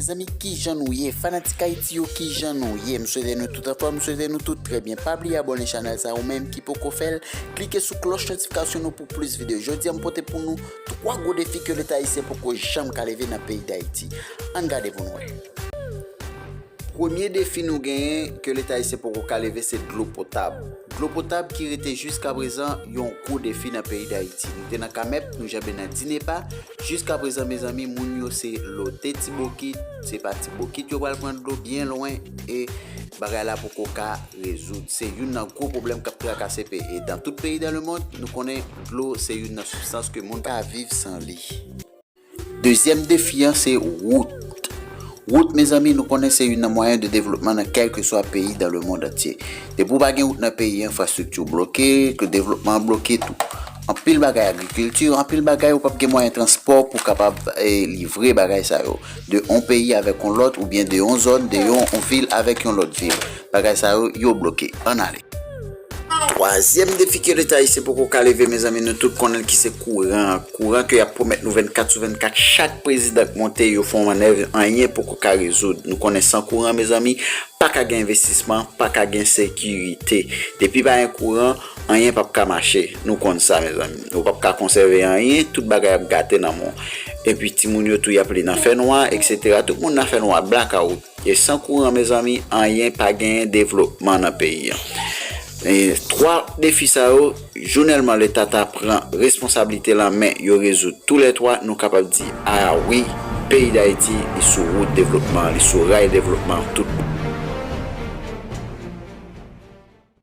Mezanmi kijan nou ye, fanatik Haïti yo kijan nou ye, m swete nou tout anfòm, m swete nou tout trè byen, pa bliye abòne chanèl sa ou menm ki poko fèl, klike sou klòch notifikasyon nou pou plis videyo, jodi an m pote pou nou 3 gwo defi ke leta ayisyen poko janm ka leve nan peyi Dayiti, ann gade pou nou wè. Premye defi nou genyen ke leta ayisyen poko ka leve se dlo potab. Dlo potab ki rete jiskaprezan yon gwo defi nan peyi Dayiti. Nou te nan Kamèp, nou janbe nan Dinepa, jiskaprezan mezanmi moun yo se lote ti bokit, se pa ti bokit yo pral pran dlo byen lwen e bagay la poko ka rezoud. Se youn nan gwo pwoblèm kap trakase pe e dan tout peyi dan lemond, nou konnen dlo se youn nan sibstans ke moun pa ka viv san li. Dezyèm defi an se wout. Wout mezanmi nou konnen se youn nan mwayen de devlopman nan kèlkeswa peyi dan lemond antye. Depi w pa gen wout nan peyi an enfrastrikti w bloke, ke devlopman an bloke tou. Anpil bagay agrikilti, anpil bagay ou pap gen mwayen transpò pou kapab livre bagay sa yo. De on peyi avèk on lòt oubyen de on zòn, de yon vil avèk yon lòt vil. Bagay sa yo, yo bloke. Ann ale. Twazyèm defi ke leta ayisyen poko ka leve mezanmi nou tout konnenl ki se kouran an, kouran ke yap pwomèt nou 24 sou 24 chak prezidan k monte yo fon mannèv anyen poko ka rezoud, nou konnen san kouran mezanmi paka gen envestisman paka gen sekirite, depi pa gen kouran anyen pap ka mache nou konn sa mezanmi, nou pap ka konsève anyen tout bagay ap gate nan mou, epi timoun yo tou yap li nan fè nwa etc tout moun nan fè nwa blackout. E san kouran mezanmi anyen pa genyen devlopman nan peyi an. E 3 defi sa yo jounèlman leta ta pran responsablite l an men yo rezoud tou lè 3 nou kapab di a wi peyi dayiti li sou wout devlopman li sou ray devlopman tout bon.